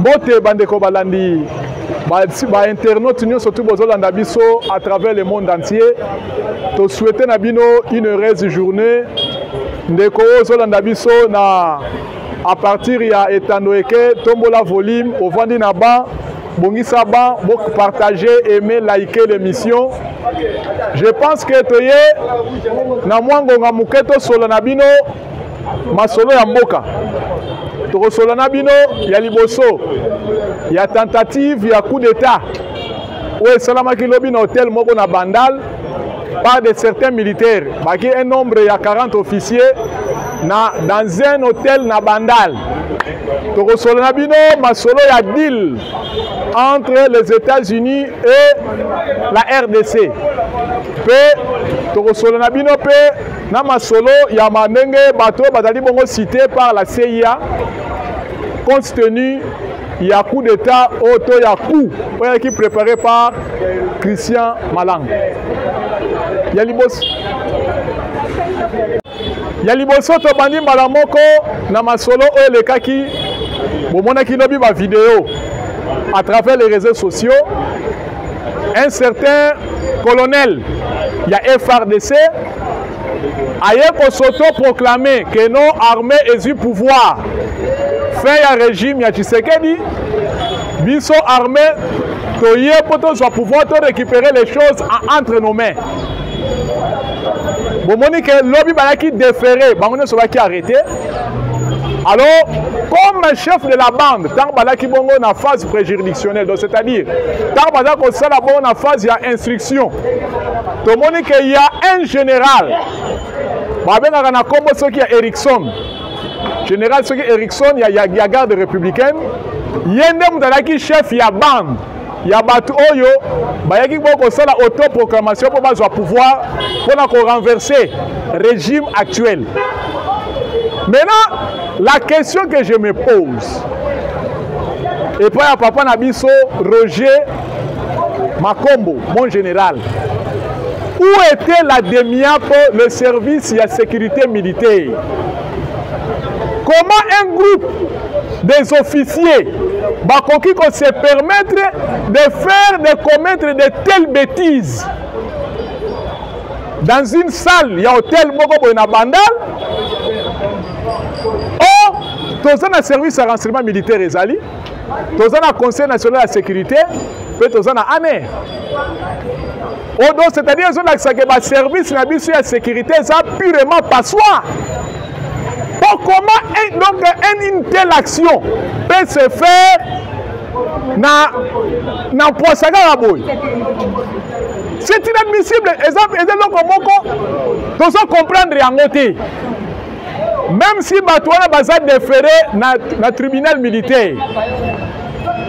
mbote bandeko balandi bainternaute ba nyonso tu bozolanda biso à travers le monde entier tosouete na bino une heureuse journée ndeko oyo ozolanda biso na à partir ya etando eke tombola volume ovandi na ba bongisa ba bo partager aimer liker l'émission je pense que toye na mwa ngonga moke tosolo na bino masolo ya mboka tokosolo na bino ya liboso ya tentative ya coup d'état oyo esalamaki lobi na hotel moko na bandal par de certains militaires baki un nombre ya 40 officiers na dans un hôtel na bandal tokosolo na bino masolo ya deal entre les états-unis et la rdc mpe tokosolo na bino mpe na masolo ya mandenge bato bazali bongo cité par la cia compte tenu ya coup d'état oyo to ya coup oyo ayaki préparé par christian malang ya liboso ya liboso tobandi mbala moko na masolo oyo elekaki bomonaki lobi bavideo à travers les réseaux sociaux un certain colonel ya frdc aye kosotoproclame ke no arme ezwi pouvoir fin ya regime ya tshisekedi biso arme toye mpo tozwa pouvoir torécupere les choses entre nos mains bomoni ke lobi bayaki defere bango nyonso bayaki arrete Alors, comme un chef de la bande, Tarbala Kibongo na phase préjuridictionnelle, donc c'est-à-dire, Tarbala Kosala Bon na phase ya instruction. Tomoni qu'il y a un général, babengaka na kombo soki ya Erickson, général soki Erickson ya, ya, ya garde républicaine, ye nde moto azalaki chef ya bande ya bato oyo bayaki bo kosala autoproclamation mpo bazwa pouvoir mpo na korenverse régime actuel maintenant la question que je me pose epai ya papa na biso roger makombo mon général où était la demiapo le service ya sécurité militaire comment un groupe des officiers bakoki ko se permettre de faire de commettre de telles bêtises dans une salle ya hôtel moko boye na bandal o toza na service ya renseignement militaire ezali toza na conseil national ya sécurité mpe toza na ane odo c'est-à-dire ezolakisa ke baservice na biso ya sécurité eza purement passoire comment un, donc un, une telle action peut se faire na na mposa kaka boye c'est inadmissible eza eza eloko moko tozo comprendre yango te même si bato wana baza defere na, na tribunal militaire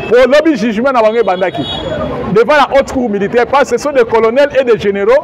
po lobi jugement na bango ebandaki devant la haute cour militaire parce que ce sont des colonels et des généraux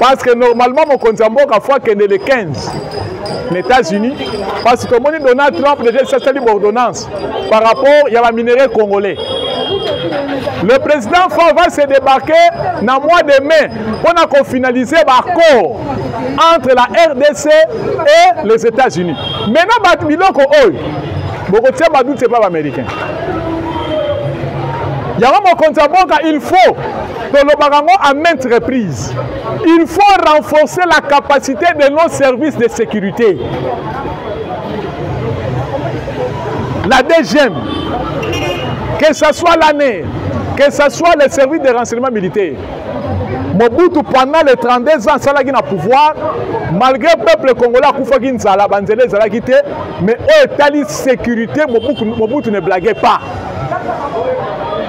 parce que normalement mokonzi ya mboka fo akende le 15 na états-unis parce que tomoni donald trump déjà esasali baordonnance par rapport ya baminerai congolais le président fort va se débarquer na mois de mai mpo na kofinalize baaccord entre la rdc et les états-unis maintenant bato biloko oyo bokotia badute epa baaméricain yango mokonzi ya mboka il faut tolobaka yango à maintes reprises il faut renforcer la capacité de nos services de sécurité la deuxième que ce soit l'année que ce soit les services de renseignement militaire mobutu pendant les 32 ans asalaki na pouvoir malgré peuple congolais akufaki nzala banzela ezalaki te mais oyo etali sécurité mobutu ne blague pas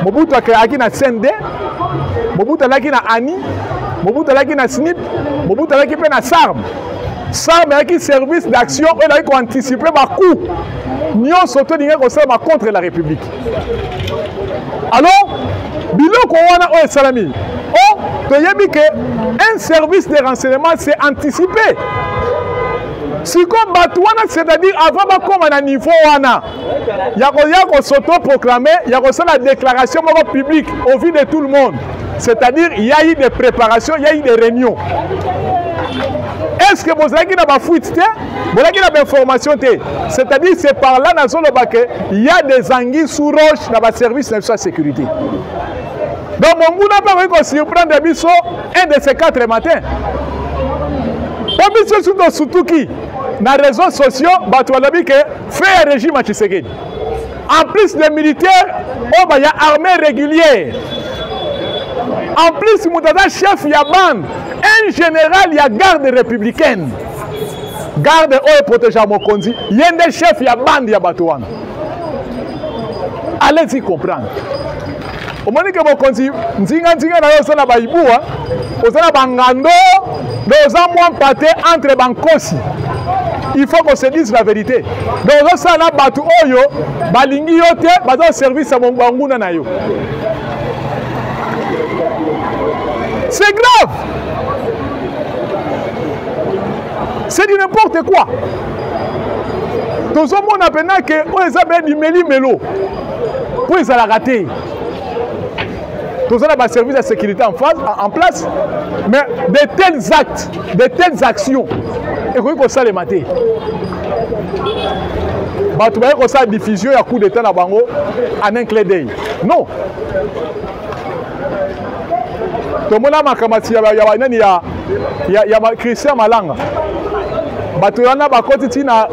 mobutu akreaki na cnd mobutu alaki na ani mobutu alaki na snip mobutu alaki mpe na sarme sarme ayaki service d'action oyo elaki koanticipe bacoup nyonso to elingaki kosalama contre la république alors biloko wana oyo esalami o toyebi ke un service de renseignement c'est anticiper sikoyo bato wana c'est-à-dire avant bakóma na niveau wana ya koya kosotoproclame ya kosala déclaration moko publique au vu de tout le monde c'est-à-dire il y a eu des préparations il y a eu des réunions est-ce que bozalaki na bafuite te bozalaki na bainformation te c'est-à-dire c'est par là nazoloba ke il y a des anguilles sous roche na baservice na biso ya sécurité donc monguna mpe akoki kosurprendre biso un de ces quatre matin mpo biso suki tosutuki na réseaux sociaux bato balobi ke fait ya régime ya tshisekedi en plus les militaires oyo baya armée régulière en plus moto aza chef ya bande un général ya garde républicaine garde oyo eprotégea mokonzi ye nde chef ya bande ya bato wana allez-y comprendre omoni ke mokonzi nzinga nzinga na yo oza na baibua oza na bangando nde oza mwa mpate entre bankosi il faut qu'on se dise la vérité donc ozosala na bato oyo balingi yo te baza koservice ya banguna na yo c'est grave c'est du n'importe quoi tozomona mpena ke oyo eza bya limelimelo mpo ezalaka te toza na baservice ya sécurité en, face, en place mais de tels actes de telles actions ekoki kosalema te bato baye kosala diffusion ya coup d'état na bango en un clé d'œil non tomona makamasi ya, ya, nani ya, ya, ya christian malanga bato wana bakoti ti na,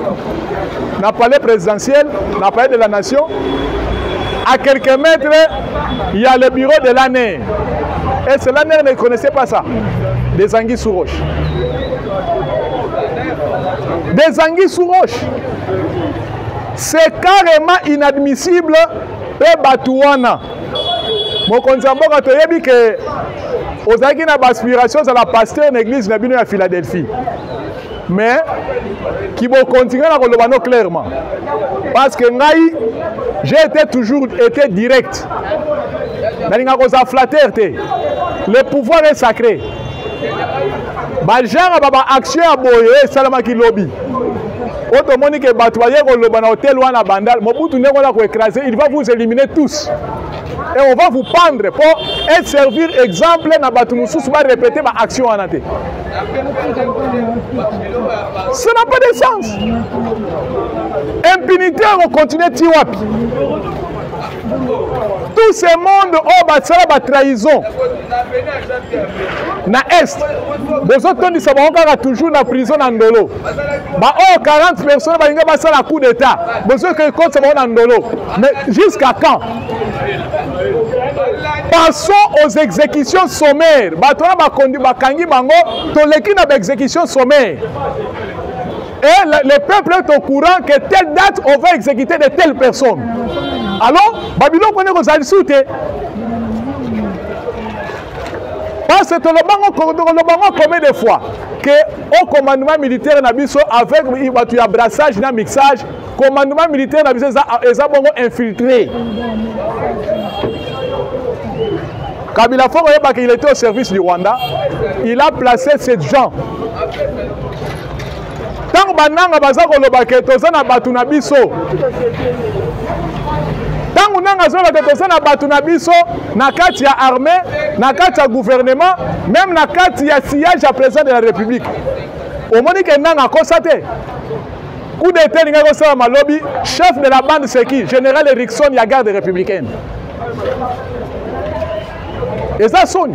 na palais présidentiel na palais de la nation à quelques mètres il y a le bureau de l'année et cela ne connaissait pas ça des anguilles sous roche des anguilles sous roche c'est carrément inadmissible mpe bato wana mokonzi ya mboka toyebi ke ozalaki na baaspiration ozala pasteur na église na bino ya philadelphie mais kibokonzi ngai na koloba no clairement parce que ngai j'ai été toujours été direct nalinga kozala flatteur te le pouvoir est sacré bagenre ba baaction ya boye esalamaki lobi oyo tomoni ke bato baye koloba na hotel wana bandal mobutu ndenge wana koecrase il va vous éliminer tous et on va vous pendre mpo et servir exemple na bato mosusu barepete baaction wana te ça n'a pas de sens impunité ekocontinue ti wapi tout ce monde oyo basala batrahison na est bozotondisa bango kaka toujours na prison na ndolo ba oyo 40 personnes balinga basala coup d'état bozoke kotisa bango na ndolo mais jusqu'à quand passons aux exécutions sommaires bato wana bakondi bakangi bango toleki na baexécution sommaire et le, le peuple est au courant que telle date on va exécuter de telle personne alors babiloko nde kozala lisusu te parce que tolobango tolobango combien de fois que au commandement militaire na biso avec bato ya brassage na mixage commandement militaire na biso eza bongo infiltré kabila foko oyebaka il était au service du rwanda il a placé ces gens ntango bananga baza koloba ke toza na bato na biso ntango nanga azoloba ke toza na bato na biso na kati ya armée na kati ya gouvernement meme na kati ya sillage ya président de la république omoni ke nanga akosa te coup d'état elingaki kosalama lobi chef de la bande seki général erikson ya garde républicaine eza soni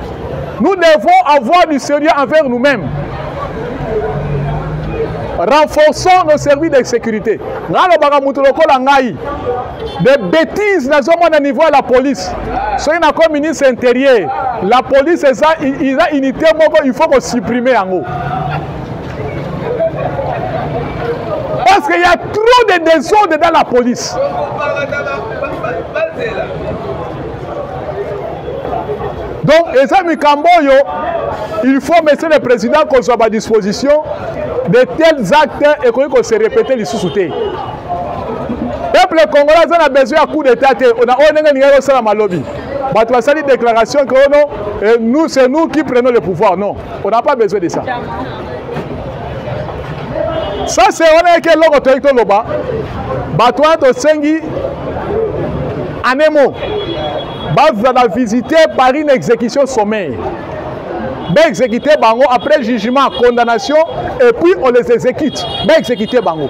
Nous devons avoir du sérieux envers nous-mêmes. Renforçons nos services de sécurité. nalobaka moto lokola ngai de bétise nazomona niveau ya la police soki nakomi ministre intérieur la police eza, eza unité moko il faut kosupprime yango parce qu'il y a trop de désordre dans la police donc eza mikambo oyo il faut monsieur le président kozwa badisposition de tels actes ekoki kose répéter lisusu te peuple congolais aza na besoin ya coup d'état te na oyo ndenge ningaki osala malobi bato basali déclaration que oh non nous c'est nous qui prenons le pouvoir non on n'a pas besoin de ça sase wana yaki eloko toyaki toloba bato wana tosengi anemo bazala visite par une exécution sommeil baexécute bango après jugement condamnation et puis on les exécute baexécute bango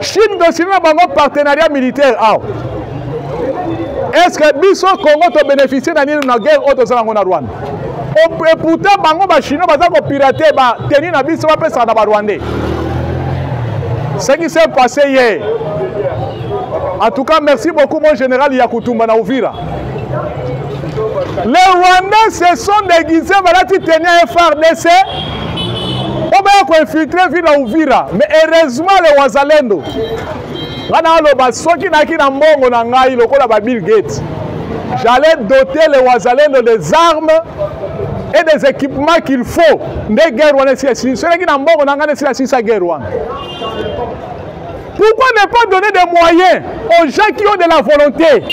chine tosili na bango partenariat militaire awa est ce que biso congo tobénéficie na nini na guerre oyo toza nango na rwanda et pourtant bango bachinois baza kopirate bateni na biso bapesaka na barwandais ce qui s'est passé hier en tout cas merci beaucoup mon général yakutumba na uvira les rwandais se sont déguisés balati teni ya frdc po baya koinfiltre ville ya uvira mais heureusement le wazalendo ngai naaloba soki nayaki na mbongo na ngai lokola ba bill gate j'allais doter le wazalendo des armes et des équipements qu'il faut nde guerre wana esila silisi soki nayaki na mbongo na ngai nde esila silisa guerre wana Pourquoi ne pas donner des moyens aux gens qui ont de la volonté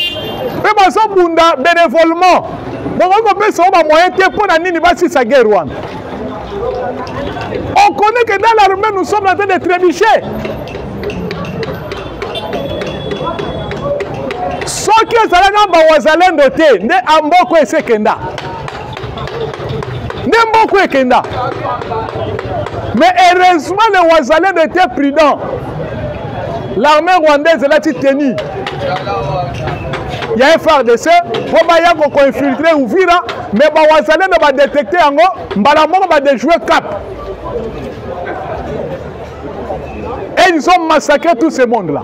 mpe bazobunda bénévolement bokoki kopesa yo bamoyen te mpo na nini basisa guerre wana on connaît que dans l'armée nous sommes en train de trébucher soki ezalaki na bawazalendo te nde amboko esekenda nde mboka ekenda mais heureusement le wazalendo était prudent l'armée rwandaise elati teni ya frdc mpo baya kokoinfiltre uvira mais bawazalendo badetecte yango mbala moko badejoue cap et ils ont massacré tout ce monde là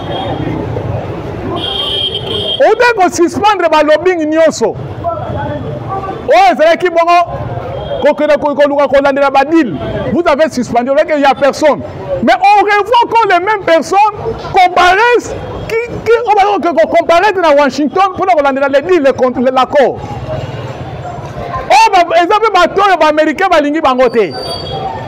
obe kosuspendre balobing nyonso oyo ezalaki bongo kokende koluka kolandela badile vous avez suspendu olaki ya personne mais on revoit encore les mêmes personnes comparaissent oyo bakoki kocomparaître na washington mpona kolandela le deal l'accord oyo eza mpe bato oyo baaméricain balingi bango te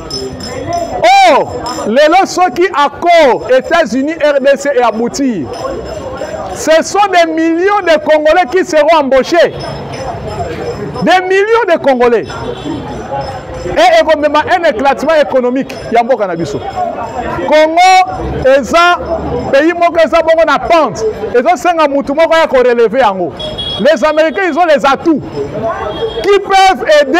o oh, lelo soki accord états-unis rdc e aboutir ce sont des millions de congolais qui seront embauchés des millions de congolais e ekomema un éclatement économique ya mboka na biso congo eza pays moko eza bongo na pente ezosenga motu moko ya koreleve yango les américains ils ont les atouts qui peuvent aider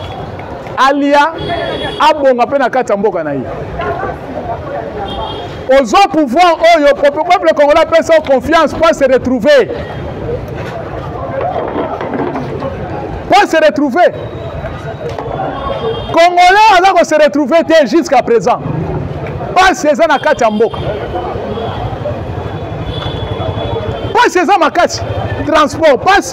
alia abonga mpe na kati ya mboka na ye ozwa pouvoir oyo peuple congolais apesa yo confiance mpo se retrouver mpo se retrouver congolais aza ko se retrouver te jusqu'à présent mpasi eza na kati ya mboka mpasi eza makasi transport mpasi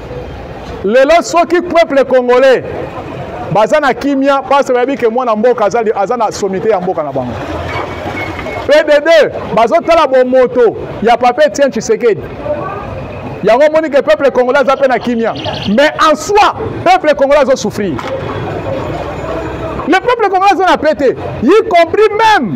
lelo soki peuple congolais baza na kimia parce bayebi ke mwana mboka aza na somite ya mboka na bango pdd bazotala bomoto ya papa etienne tshisekedi yango omoni ke peuple congolais aza mpe na kimia mais en soi peuple congolais azosouffrir le peuple congolais aza na pete y compris même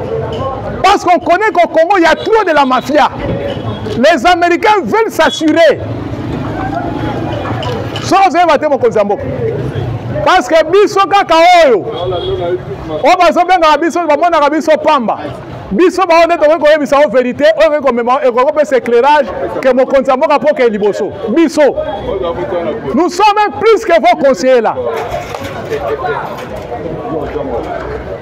Parce qu'on connaît qu'au Congo, il y a trop de la mafia. Les Américains veulent s'assurer. soki ozali bate mokonzi ya mboka parce que biso kaka oyo oyo bazobengaka biso bamonaka biso pamba biso bango nde tokoki koyebisa yo verité oyo ekoki komema ekoki kopesa éclairage ke mokonzi ya mboka mpo okei liboso biso nous sommes plus que vos conseiller là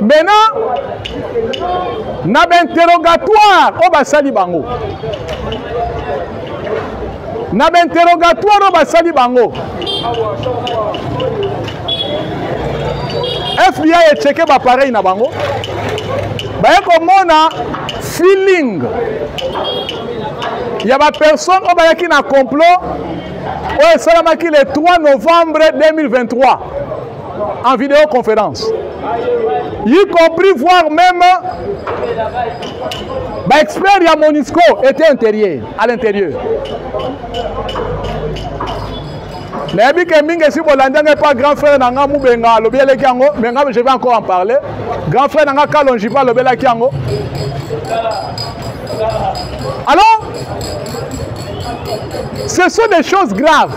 maintenant na bainterrogatoire oyo basali bango na bainterrogatoire oyo basali bango fbi echeke bapareil na bango baye komona feeling ya bapersone oyo bayaki na complot oyo esalamaki le 3 novembre 2023 en vidéoconférence, y compris voir même bah, expert à Monisco était intérieur, à l'intérieur. nayebi ke mingi esi bolandi yango epa grand frère na nga mubenga alobelaki yango me nga je vais encore en parler grand frère na nga kalonji mpe alobelaki yango alors ce sont des choses graves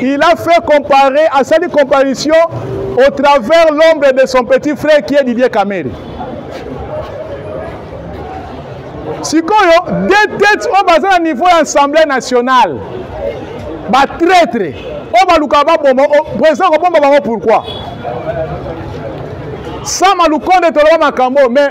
Il a fait comparer, à sa comparaison au travers l'ombre de son petit frère qui est Didier Kamere. sikoyo deux têtes oyo baza na niveau ya assemblée nationale batraitre oyo balukaka baboma président kobomba bango pourquoi sama lukonde toloba makambo mais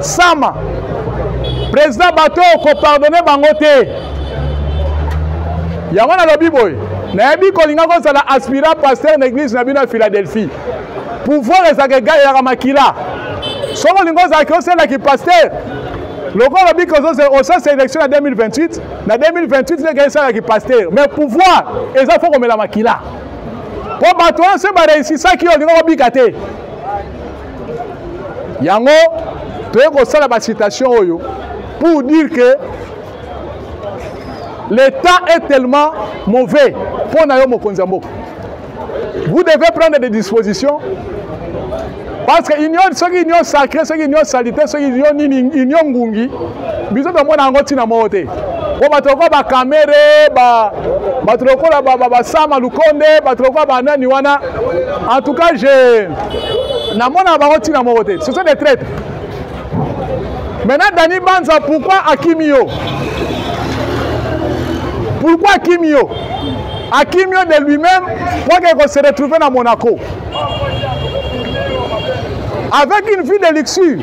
sama président bato oyo kopardone bango te yango nalobi boye nayebi kolinga kozala aspirant pasteur na église na bino ya philadelphie pouvoir ezalaka egalelaka makila soki olingi ozalaki osela kipasteur lokola olobi osasa élection na 2028 na 2028 nde ekei esala kipasteur mais pouvoir eza fo komela makila mpo bato wana se bareisisaki yo olingi kobika te yango toye kosala bacitation oyo pour dire que l'état est tellement mauvais mpo na yo mokonzi ya mboka vous devez prendre des dispositions parce que union soki union sacré soki union salite soki union nini union ngungi biso tomona yango ntina moko te mpo bato lokola bakamere bato lokola basama lukonde bato lokola banani wana en tout cas je namonaka bango ntina moko te ce sont des traites maintenant dani banza pourquoi akimi yo pourquoi akimi yo akimi yo de lui-même mpo ake kose retrouve na monaco avec une vie de luxure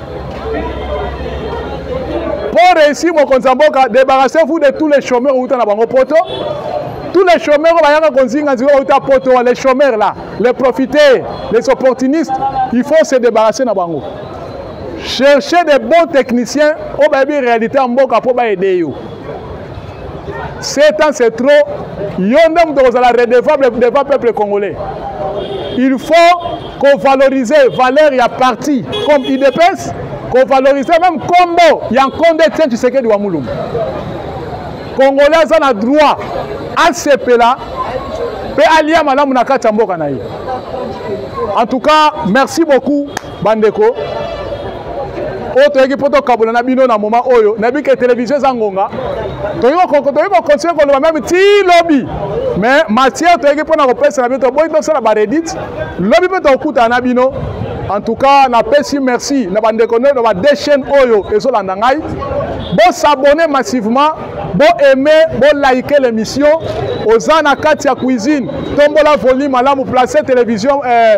Pour réussir mokonzi ya mboka, débarrassez-vous de tous les chômeurs uta na bango poto. Tous les chômeurs bayaka konzinga nzika uta poto, les chômeurs là, les profiteurs, les opportunistes, il faut se débarrasser na bango. Cherchez des bons techniciens oyo bayebi réalité ya mboka mpo baede yo. 7 ans c'est trop yo nde moto okozala redevable devant peuple congolais il faut kovalorize valeur ya parti comme idps kovalorize meme nkombo ya nkonde tien tshisekedi wa mulumbu congolais aza na droit asepela mpe alia malamu na kati ya mboka na ye en tout cas merci beaucoup bandeko oyo toyaki mpo tokabola na bino na moma oyo nayebi ke televizio eza ngonga toyei kokontinue koloba meme ti lobi mais matière toyaki mpo na kopesa na bino toboyi tosala baredite lobi mpe tokokutana na bino en tout cas napesi merci na bandeko nde na ba deux chaînes oyo ezolanda ngai bosabone massivement boaime bolaike l'émission oza na kati ya cuisine tombola volume malamu place télévision eh,